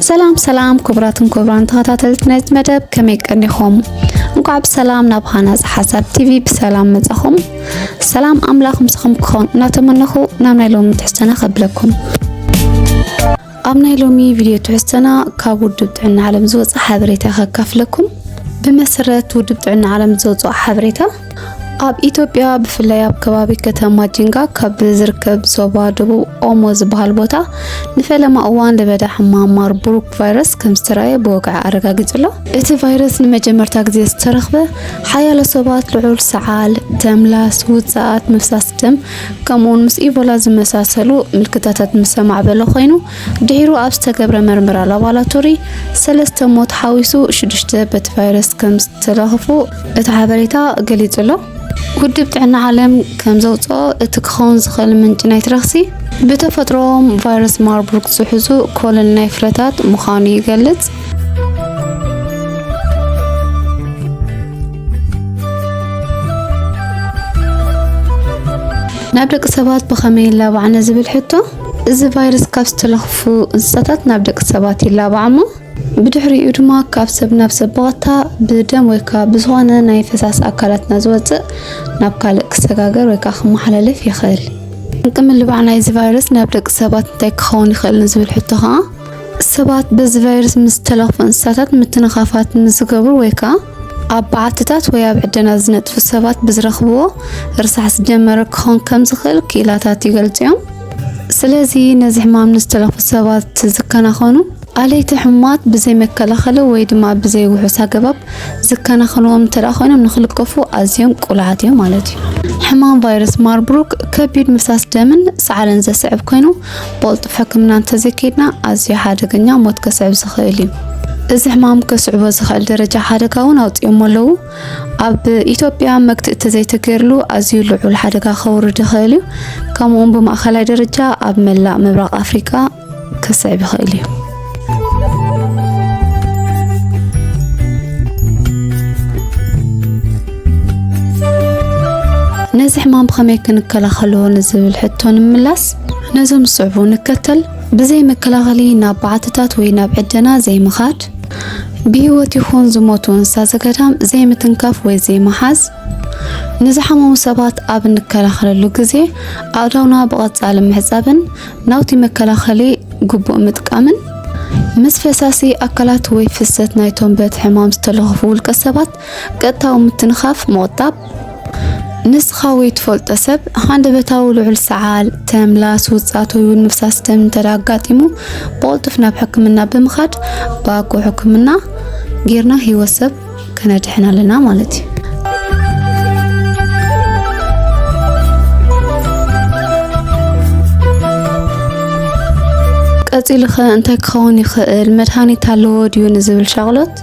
ሰላም ሰላም ክቡራትን ክቡራን ተኸታተልቲ ናይዚ መደብ ከመይ ቀኒኹም? እንኳዕ ብሰላም ናብ ሃናፅ ሓሳብ ቲቪ ብሰላም መጻኹም። ሰላም ኣምላኽ ምስኹም ክኸውን እናተመነኹ ናብ ናይ ሎሚ ትሕዝቶና ከብለኩም። ኣብ ናይ ሎሚ ቪድዮ ትሕዝቶና ካብ ውድብ ጥዕና ዓለም ዝወፅእ ሓበሬታ ከካፍለኩም። ብመሰረት ውድብ ጥዕና ዓለም ዝወፅኦ ሓበሬታ ኣብ ኢትዮጵያ ብፍላይ ኣብ ከባቢ ከተማ ጂንጋ ካብ ዝርከብ ዞባ ደቡብ ኦሞ ዝበሃል ቦታ ንፈለማ እዋን ለበዳ ሕማም ማርቡርግ ቫይረስ ከም ዝተረኣየ ብወግዒ ኣረጋጊጹ ኣሎ። እቲ ቫይረስ ንመጀመርታ ግዜ ዝተረኽበ ሓያሎ ሰባት ልዑል ሰዓል፣ ተምላስ፣ ውጽኣት ምፍሳስ ደም ከምኡውን ምስ ኢቦላ ዝመሳሰሉ ምልክታታት ምስ ኣማዕበሎ ኮይኑ ድሒሩ ኣብ ዝተገብረ መርመራ ላቦራቶሪ ሰለስተ ሞት ሓዊሱ ሽዱሽተ በቲ ቫይረስ ከም ዝተለኽፉ እቲ ሓበሬታ ገሊጹ ኣሎ። ውድብ ጥዕና ዓለም ከም ዘውፅኦ እቲ ክኸውን ዝኽእል ምንጪ ናይቲ ረኽሲ ብተፈጥሮኦም ቫይረስ ማርቡርግ ዝሕዙ ኮለል ናይ ፍረታት ምዃኑ ይገልጽ። ናብ ደቂ ሰባት ብኸመይ ይላባዕ ንዝብል ሕቶ እዚ ቫይረስ ካብ ዝተለኽፉ እንስሳታት ናብ ደቂ ሰባት ይላባዕ እሞ ብድሕሪኡ ድማ ካብ ሰብ ናብ ሰብ ብቐጥታ ብደም ወይ ከዓ ብዝኾነ ናይ ፈሳሲ ኣካላትና ዝወፅእ ናብ ካልእ ክሰጋገር ወይ ከዓ ክመሓላለፍ ይኽእል። ጠንቂ ምልባዕ ናይዚ ቫይረስ ናብ ደቂ ሰባት እንታይ ክኸውን ይኽእል ንዝብል ሕቶ ከዓ ሰባት በዚ ቫይረስ ምስ ዝተለኽፉ እንስሳታት ምትንኻፋት ምስ ዝገብሩ ወይ ከዓ ኣብ በዓትታት ወይ ኣብ ዕደና ዝነጥፉ ሰባት ብዝረኽብዎ ርሳሕ ዝጀመረ ክኾን ከም ዝኽእል ክኢላታት ይገልጹ እዮም። ስለዚ ነዚ ሕማም ንዝተለኽፉ ሰባት ዝከናኸኑ ኣለይቲ ሕሙማት ብዘይ መከላኸሊ ወይ ድማ ብዘይ ውሑስ ኣገባብ ዝከናኸንዎም እንተደኣ ኮይኖም ንክልከፉ ኣዝዮም ቅሉዓት እዮም ማለት እዩ። ሕማም ቫይረስ ማርቡርግ ከቢድ ምፍሳስ ደምን ሰዓልን ዘስዕብ ኮይኑ ቦልጡፍ ሕክምና እንተዘይከይድና ኣዝዩ ሓደገኛ ሞት ከስዕብ ዝኽእል እዩ። እዚ ሕማም ከስዕቦ ዝኽእል ደረጃ ሓደጋ እውን ኣውፂኦሞ ኣለዉ። ኣብ ኢትዮጵያ መግትእ እተዘይተገይርሉ ኣዝዩ ልዑል ሓደጋ ከውርድ ይኽእል እዩ። ከምኡውን ብማእኸላይ ደረጃ ኣብ መላእ ምብራቕ ኣፍሪቃ ከስዕብ ይኽእል እዩ። ነዚ ሕማም ብኸመይ ክንከላኸሎ ንዝብል ሕቶ ንምላስ ነዞም ዝስዕቡ ንከተል ብዘይ መከላኸሊ ናብ በዓትታት ወይ ናብ ዕደና ዘይምኻድ ብህይወት ይኹን ዝሞቱ እንስሳ ዘገዳም ዘይምትንካፍ ወይ ዘይመሓዝ ንዝሓመሙ ሰባት ኣብ እንከላኸለሉ ግዜ ኣእዳውና ብቐጻሊ ምሕጻብን ናውቲ መከላኸሊ ግቡእ ምጥቃምን ምስ ፈሳሲ ኣካላት ወይ ፍሰት ናይቶም በቲ ሕማም ዝተለኸፉ ውልቀ ሰባት ቀጥታዊ ምትንኻፍ ምቑጣብ ንስኻ ወይ ትፈልጦ ሰብ ሃንደበታዊ ልዑል ሰዓል፣ ተምላስ፣ ውፃት ወይ እውን ምፍሳስ ደም እንተ ኣጋጢሙ ብቕልጡፍ ናብ ሕክምና ብምኻድ ብኣግኡ ሕክምና ጌርና ህይወት ሰብ ከነድሕን ኣለና ማለት እዩ። ቀፂሉ ኸ እንታይ ክኸውን ይኽእል? መድሃኒት ኣለዎ ድዩ ንዝብል ሻቕሎት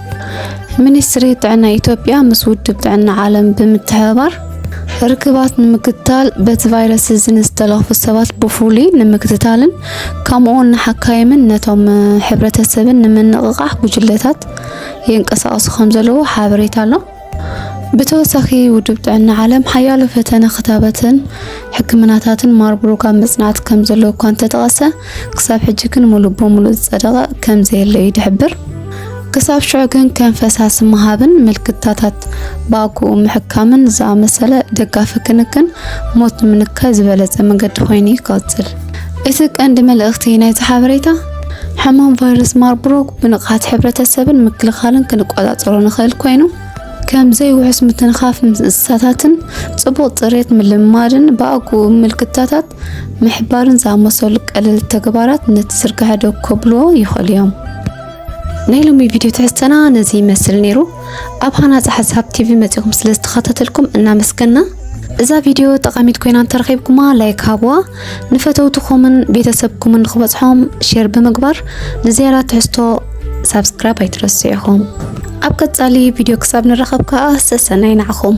ሚኒስትሪ ጥዕና ኢትዮጵያ ምስ ውድብ ጥዕና ዓለም ብምትሕብባር ርክባት ንምክትታል በቲ ቫይረስ እዚ ንዝተለኽፉ ሰባት ብፍሉይ ንምክትታልን ከምኡውን ንሓካይምን ነቶም ሕብረተሰብን ንምንቕቓሕ ጉጅለታት ይንቀሳቐሱ ከም ዘለዉ ሓበሬታ ኣሎ። ብተወሳኺ ውድብ ጥዕና ዓለም ሓያሎ ፈተነ ክታበትን ሕክምናታትን ማርቡርግ ኣብ ምጽናት ከም ዘሎ እኳ እንተጠቐሰ ክሳብ ሕጂ ግን ሙሉእ ብሙሉእ ዝጸደቐ ከም ዘየለ እዩ ዝሕብር። ክሳብ ሽዑ ግን ከም ፈሳሲ ምሃብን ምልክታታት ብኣግኡ ምሕካምን ዝኣመሰለ ደጋፊ ክንክን ሞት ንምንካይ ዝበለጸ መገዲ ኮይኑ ይቀጽል። እቲ ቀንዲ መልእኽቲ ናይቲ ሓበሬታ ሕማም ቫይረስ ማርቡርግ ብንቕሓት ሕብረተሰብን ምክልኻልን ክንቆጻጸሮ ንኽእል ኮይኑ ከም ዘይውሑስ ምትንኻፍ ምስ እንስሳታትን ጽቡቕ ጽሬት ምልምማድን ብኣግኡ ምልክታታት ምሕባርን ዝኣመሰሉ ቀለል ተግባራት ነቲ ዝርግሐ ደው ከብልዎ ይኽእሉ እዮም። ናይ ሎሚ ቪድዮ ትሕዝተና ነዚ ይመስል ነይሩ። ኣብ ሃናፂ ሓሳብ ቲቪ መፂኹም ስለ ዝተኸታተልኩም እናመስገና እዛ ቪድዮ ጠቓሚት ኮይና እንተረኺብኩማ ላይክ ሃብዋ፣ ንፈተውትኹምን ቤተሰብኩምን ንክበፅሖም ሼር ብምግባር ንዝያዳ ትሕዝቶ ሳብስክራይብ ኣይትረስዑ ኢኹም። ኣብ ቀጻሊ ቪድዮ ክሳብ ንራኸብ ከዓ ሰሰናይ ንዓኹም።